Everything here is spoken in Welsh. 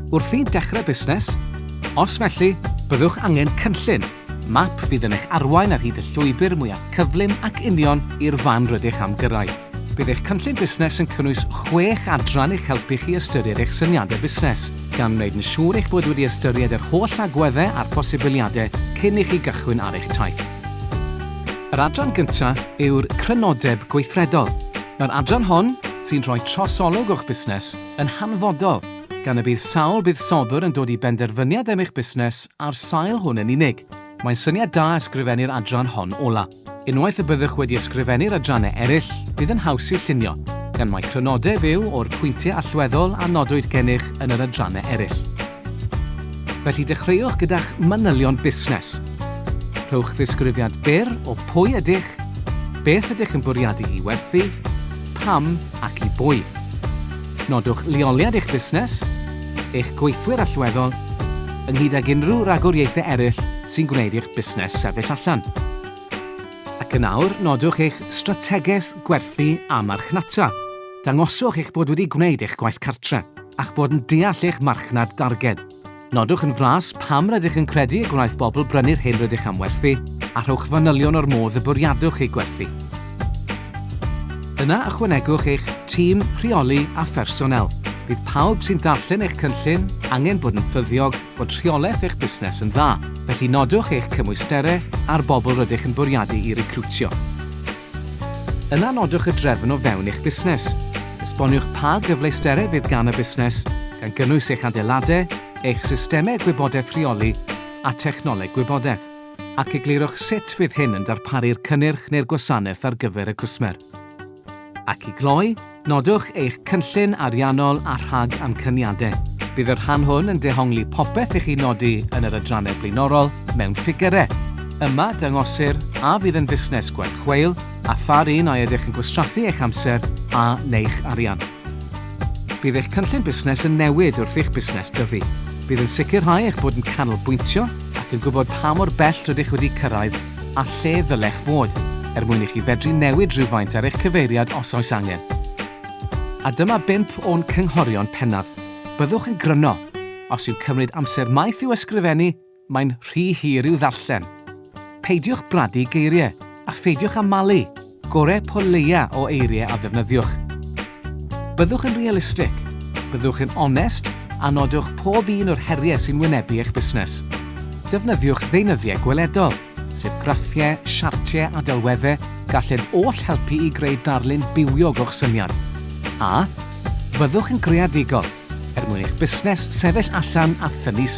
Wrth i dechrau busnes? Os felly, byddwch angen cynllun, map fydd yn eich arwain ar hyd y llwybr mwyaf cyflym ac union i'r fan rydych am gyrraedd. Bydd eich cynllun busnes yn cynnwys chwech adran i'ch helpu chi ystyried eich syniadau busnes, gan wneud yn siŵr eich bod wedi ystyried yr holl agweddau a'r posibiliadau cyn i chi gychwyn ar eich taith. Yr adran gyntaf yw'r crynodeb gweithredol. Mae'r adran hon, sy'n rhoi trosolwg o'ch busnes, yn hanfodol, gan y bydd sawl buddsoddwr yn dod i benderfyniad am eich busnes ar sail hwn yn unig. Mae'n syniad da ysgrifennu'r adran hon ola. Unwaith y byddwch wedi ysgrifennu'r adrannau eraill, bydd yn haws eu llunio, gan mai crynodeb yw o'r pwyntiau allweddol a nodwyd gennych yn yr adrannau eraill. Felly dechreuwch gyda'ch manylion busnes. Rhowch ddisgrifiad byr o pwy ydych, beth ydych yn bwriadu i werthu, pam ac i bwy. Nodwch leoliad eich busnes, eich gweithwyr allweddol, ynghyd ag unrhyw ragoriaethau eraill sy'n gwneud i'ch busnes sefyll allan. Ac yn awr, nodwch eich strategaeth gwerthu a marchnata. Dangoswch eich bod wedi gwneud eich gwaith cartref. a'ch bod yn deall eich marchnad darged. Nodwch yn fras pam rydych yn credu y gwnaeth bobl brynu'r hyn rydych am werthu, a rhowch fanylion o'r modd y bwriadwch ei gwerthu. Yna ychwanegwch eich tîm rheoli a phersonél. Bydd pawb sy'n darllen eich cynllun angen bod yn ffyddiog bod rheolaeth eich busnes yn dda, felly nodwch eich cymwysterau a'r bobl rydych yn bwriadu i recriwtio. Yna nodwch y drefn o fewn eich busnes. Esboniwch pa gyfleusterau fydd gan y busnes, gan gynnwys eich adeiladau, eich systemau gwybodaeth rheoli a technoleg gwybodaeth, ac eglurwch sut fydd hyn yn darparu'r cynnyrch neu'r gwasanaeth ar gyfer y cwsmer. Ac i gloi, Nodwch eich cynllun ariannol a rhag amcaniadau. Bydd y rhan hwn yn dehongli popeth i chi nodi yn yr adrannau blaenorol mewn ffigyrau. Yma, dangosir a fydd yn fusnes gwerth chweil a pha'r un a ydych yn gwastraffu eich amser a neu'ch arian. Bydd eich cynllun busnes yn newid wrth i'ch busnes dyfu. Bydd yn sicrhau eich bod yn canolbwyntio ac yn gwybod pa mor bell rydych wedi cyrraedd a lle ddylech fod, er mwyn i chi fedru newid rhywfaint ar eich cyfeiriad os oes angen. A dyma bump o'n cynghorion pennaf. Byddwch yn gryno. Os yw cymryd amser maith i'w ysgrifennu, mae'n rhy hir i'w ddarllen. Peidiwch bradu geiriau, a pheidiwch â malu! Gore po leia o eiriau a ddefnyddiwch. Byddwch yn realistig, byddwch yn onest a nodwch pob un o'r heriau sy'n wynebu eich busnes. Defnyddiwch ddeunyddiau gweledol, sef graffiau, siartiau a delweddau gallent oll helpu i greu darlun bywiog o'ch syniad. A Byddwch yn greadigol, er mwyn eich busnes sefyll allan a thynnu sylw.